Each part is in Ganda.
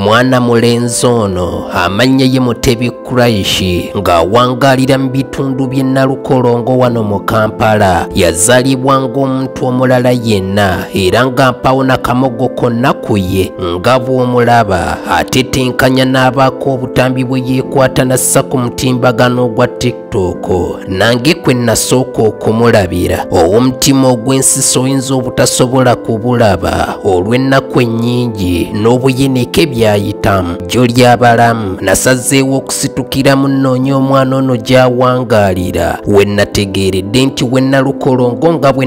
mwana mulenzi ono amannya ye mutebi kuraishi ng'awangalira mu bitundu by'e nalukolongo wano mu kampala yazalibwa ng'omuntu omulala yenna era ng'ampawo nakamogo konna ku ye nga bw'omulaba atetenkanya n'abaako obutambi bwe yeekwata nassa ku mutimbagano ogwa tik tooko nange kwe nasooka okumulabira ow'omutima ogw'ensisa oyinza obutasobola kubulaba olw'ennaku ennyingi n'obuyinike byayitamu jjo ly'abalamu nasazeewo okusitukira mu nnoonya omwana ono gy'awangaalira we nategeeredde nti we nalukolongo nga bwe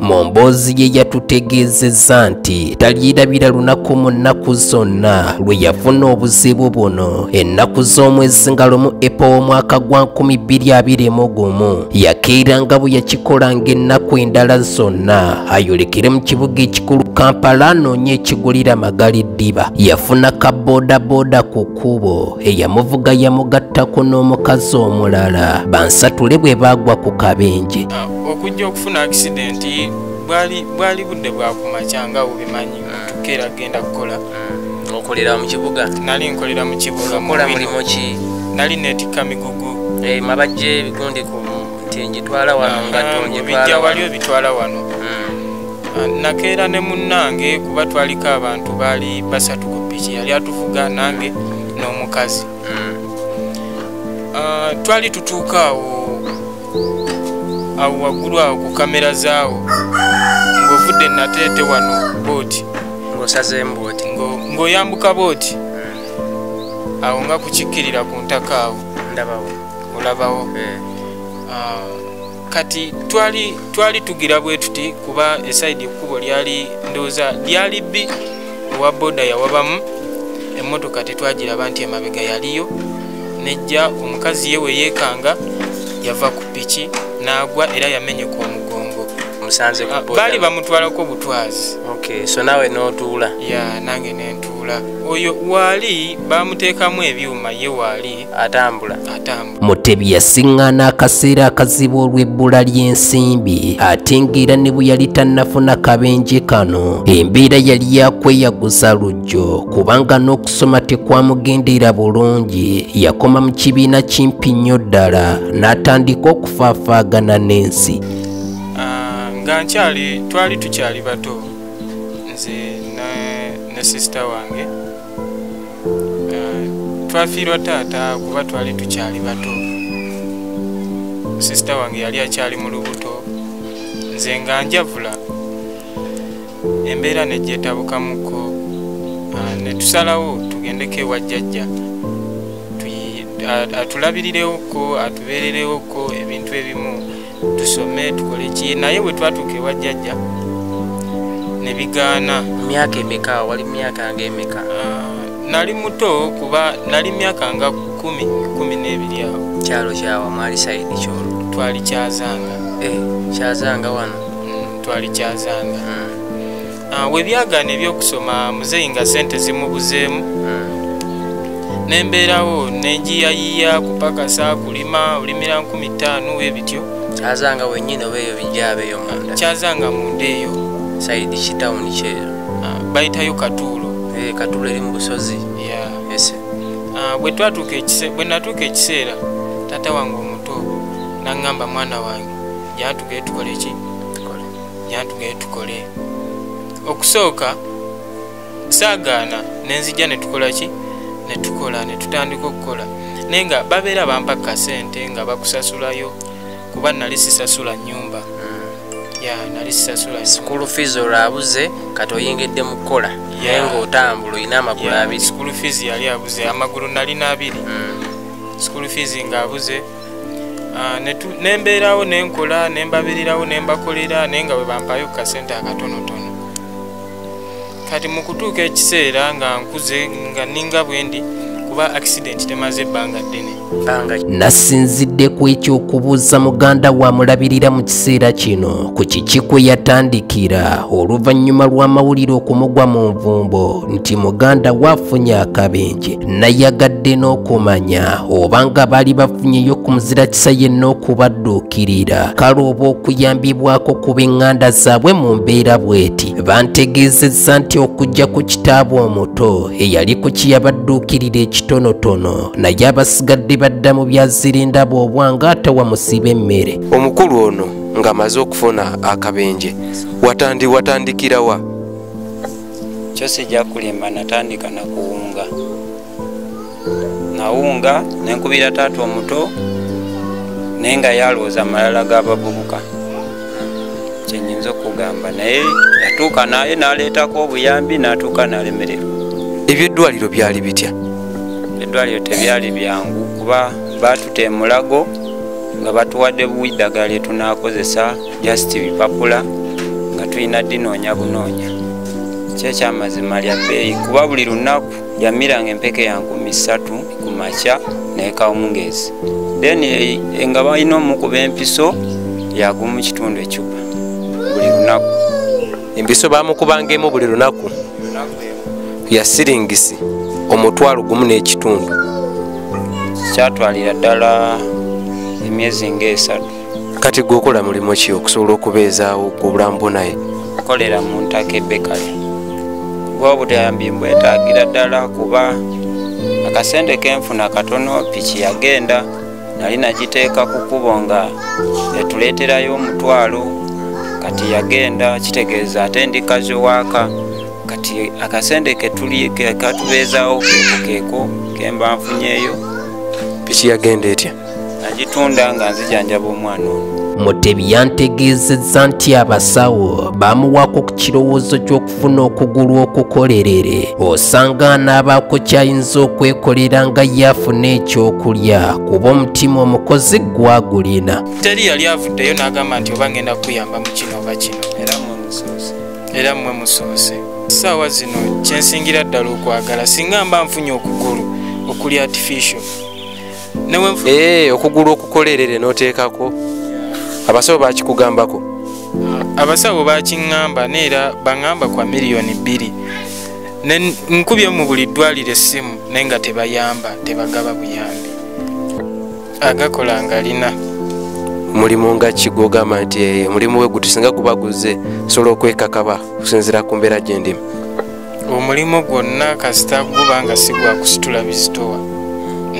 mu mboozi ye yatutegeezezza nti talyirabira lunaku mu nnaku zonna lwe yafuna obuzibu buno ennaku z'omwezi nga lumu epa w'omwaka gwa 221 yakeera nga bwe yakikola ng'ennaku endala zonna ayolekere mu kibuga ekikulu kampala anoonye ekigulira magali ddiba yafuna ka bodaboda ku kkubo eyamuvuga yamugattako n'omukazi omulala bansatule bwe baagwa ku kabenje okujja okufuna akisidenti bwali budde bwakumakya nga obimanyi mutuka era genda kukola okolera mu kibuga nali nkolera mu kibuga mukola mulimu ki nali netikka migugu eh, mabajje ebigundi ku nti ngitwala wano nga tongitwala wali obitwala wano hmm. nakeera ne munnange kuba twaliko abantu baali basatu ku piki yali atuvuga nange n'omukazi hmm. ah, twali tutuuka awo awo waggulu awo ku kamera zaawo ng'ovudde nateete wano booti ng'osazeembooti ng'oyambuka booti hmm. awo nga kukikkirira ku ntaka awo ndabawo olabawo eh. ah, kati twali twali tugira bwe tuti kuba esaidi ekkubo lyali ndooza lyali bbi owa boda yawabamu emmotoka tetwagiraba nti emabega yaliyo nejja omukazi ye weyekanga yava ku piki n'agwa era yamenyeka omugongo ah, baali bamutwalako butwazi so nawe notuula ya nange nentuula oyo waali bamuteekamu ebyuma ye waali atambula mutebi yasiŋŋaana akaseera akazibu olw'ebbula ly'ensimbi ate ng'era ne bwe yali tannafuna kabenje kano embeera yali yakweyaguza lujjo kubanga n'okusoma tekwamugendera bulungi yakoma mu kibiina kimpi nnyo ddala n'atandika okufaafaagana n'ensi ah, nga nkyali twali tukyali bato nze ne sisita wange ah, twafiirwa taata kuba twali tukyali bato sisita wange yali akyali mu lubuto nze nga njavula embeera negyetabukamuko ah, netusalawo tugendeko ewa jjajja atulabirirewo ko atubeererewo ko ebintu ebimu tusome tukole ki naye bwe twatuuka ewa jjajja ne bigaana myaka emeka wali myaka nga emeka ah, nali muto kuba nali myaka nga kumi kumi n'ebiri awo kyalo kyawa mwali saidi kyolo twali kyazanga eh, kyazanga wano mm, twali kyazanga mm. Ah, webyagaana ebyokusoma muzeeyi nga sente zimubuzeemu hmm. nembeerawo nenjiyayiya kupakasa kulima olimira nkumi ttaano webityo kyazanga wenyini oba eyo bijabeeyo munda kyazanga munda eyo saidi kitawuni kyeyo ah, bayitayo katuulo eh, katuulo eri mu busozi ah, bwe natuuka ekiseera taata wange omuto naŋŋamba mwana wange jatugetukoleki yantugeye tukole okusooka saagaana nenzija netukola ki netukola netutandika okukola naye nga babeera bampa kasente nga bakusasulayo kuba nali sisasula nyumba hmm. ya nali sisasula school fees olwabuze kati oyingidde mu kukola naye ngaotambula olina amagulu abiri school fees yali abuze amagulu nalina abiri hmm. school fees ngaabuze ah, nembeerawo nenkola nembabirirawo nembakolera naye nga bwebampayo kukasente akatonotono kati mukutuuka ekiseera nga nkuze nga ninga bwendi kuba accident temaze ebbanga ddene nasinzidde ku ekyokubuuza muganda wamulabirira mu kiseera kino ku kiki kwe yatandikira oluvannyuma lw'amawulire okumugwa mu nvumbo nti muganda waafunye akabenje nayagadde n'okumanya oba nga baali bafunyeyo ku muzira kisa yenna okubadduukirira kale oba okuyambibwako ku b'eŋŋanda zaabwe mu mbeera bw'eti bantegeezezza nti okujja ku kitaabwe omuto eyali ku kiyabadduukirira ekitonotono naye abasigadde badda mu byazirindaba obwanga atawamusiba emmere omukulu ono ng'amaze okufuna akabenje watandikirawa kyo sijja kulimba natandika nakuwunga nawunga nenkubira taata omuto naye nga yalwooza amalala g'abavubuka kyenyinza okugamba naye yatuuka naye naleetako obuyambi natuuka nalemererwa ebyeddwaliro byali bitya eddwaliro tebyali byangu kuba baatuta emulago nga batuwadde buidagala etunakozesa just bipapula nga tulina dinoonya bunoonya kyekyamazima lya bbeeyi kuba buli lunaku yamiranga empeke ya nkumi ssatu ku makya nekawungeezi then eh, eh, nga balina omukuba empiso yagumu kitundu ecupa buli lunaku empiso bamukubanga emu buli lunaku yasiringisi omutwalo gumu n'ekitundu kyatwalira ddala emyezi ngaesatu kati gwe okola mulimu ki okusobola okubeezaawo obulamu bwo naye nkolera mu ntaka ebekale gwe obutayambi mbwetaagira ddala kuba akasente kenfuna katono piki yagenda nali nagiteeka ku kubo nga etuleeterayo omutwalo kati yagenda kitegeeza ate ndi kazi owaaka kati akasente katubeezawo keeko keeko kemba nfunyeeyo piki yagenda etya nagitunda nga nzijanjaba omwana ono mutebi yantegeezezza nti abasawo bamuwaako ku kirowoozo ky'okufuna okugulu okukolerere osanga anaabaako kyayinza okwekolera nga ye afuna ekyokulya kuba omutima omukozi gwagulina teri yali avuddeyo n'agamba nti oba ngenda kuyamba mu kino oba kino era mmwe musoose essaawa zino kyensingira ddala okwagala singa mba nfunye okugulu okuli artificial eh, okugulu okukolerere noteekako abasawo bakikugambako ah, abasawo bakiŋŋamba neera baŋŋamba kwa miliyoni bbiri nkubye mu buli ddwaliro essimu naye nga tebayamba tebagaba buyambi agakola ngalina mulimu nga kigogamba nti eh, omulimu we gutusinga kuba guzze sobola okwekakaba okusinzira ku mbeera gyendima omulimu gwonna kasita guba nga si gwa kusitula bizitowa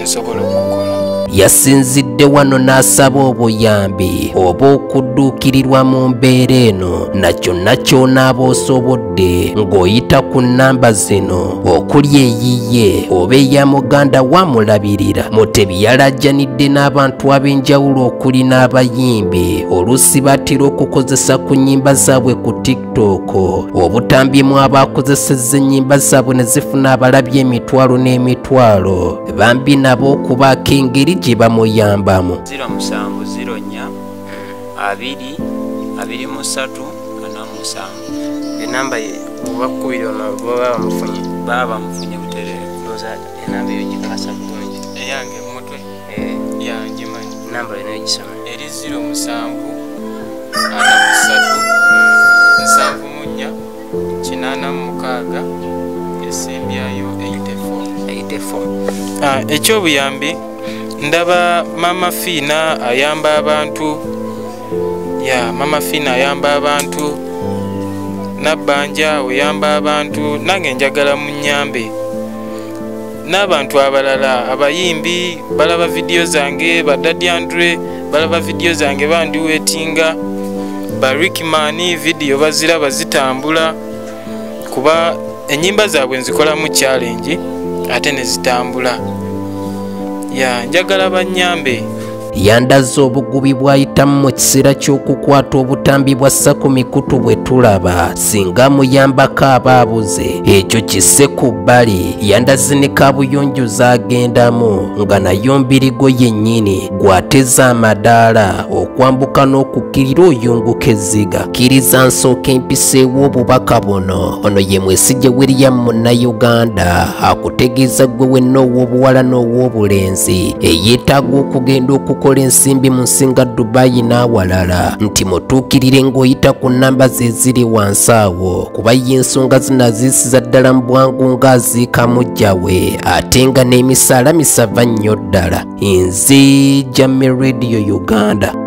nsobola okukola yasinzidde wano n'asaba obuyambi oba okudduukirirwa mu mbeera eno na kyonna ky'onaaba osobodde ng'oyita ku nnamba zino okuli eyiye oba eya muganda wamulabirira mutebi yalajjanidde n'abantu ab'enjawulo okuli n'abayimbi oluusi batera okukozesa ku nnyimba zaabwe ku tik TikTok obutambyemu abaakozesezza ennyimba zaabwe ne zifuna abalabye emitwalo n'emitwalo bambi nabo okubaako engeri gye bamuyambamu 0704 abiri abiri musatu ana musanvu enamba ye obakubiri baba bamufunye baba bamufunye butereevu enamba eyo gikasa bulungi eyange mutwe eh, ya ngimanyi namba yona egisoma eri ziro musanvu ana musatu nsanvu munya kinana mukaaga esimbyayo 84 ah, ekyobuyambi ndaba mama fiina ayamba abantu ya mama fiina ayamba abantu nabbanja oyamba abantu nange njagala munyambe n'abantu abalala abayimbi balaba vidiyo zange badadi andre balaba vidiyo zange bandiwetinga barikimani vidiyo baziraba zitambula kuba enyimba zaabwe nzikolamu challenge ate nezitambula ya njagala banyambe yandazze obugubi bw'ayitamu mu kiseera ky'okukwata obutambi bwa ssa ku mikutu bwe tulaba singa muyambako aba abuze ekyo kisse ku bbali yandazi ne kabuyonjo z'agendamu nga nayo mbirigo yennyini gw'ateza amadaala okwambuka n'okukkirira oyunguka ezziga kkiriza nsooka empiseewo obubaka buno ono ye mwesigye william munnayuganda akutegeeza ggwe wenna ow'obuwala n'ow'obulenzi Embakasi eyeetaaga okugenda okukola ensimbi mu nsinga Dubai n'awalala nti mutuukirire ng'oyita ku nnamba ze ziri wansi awo kuba ye ensonga zino aziisiza ddala mu bwangu ng'aziika mujja we ate nga n'emisaala misava nnyo ddala nze Jame Radio Uganda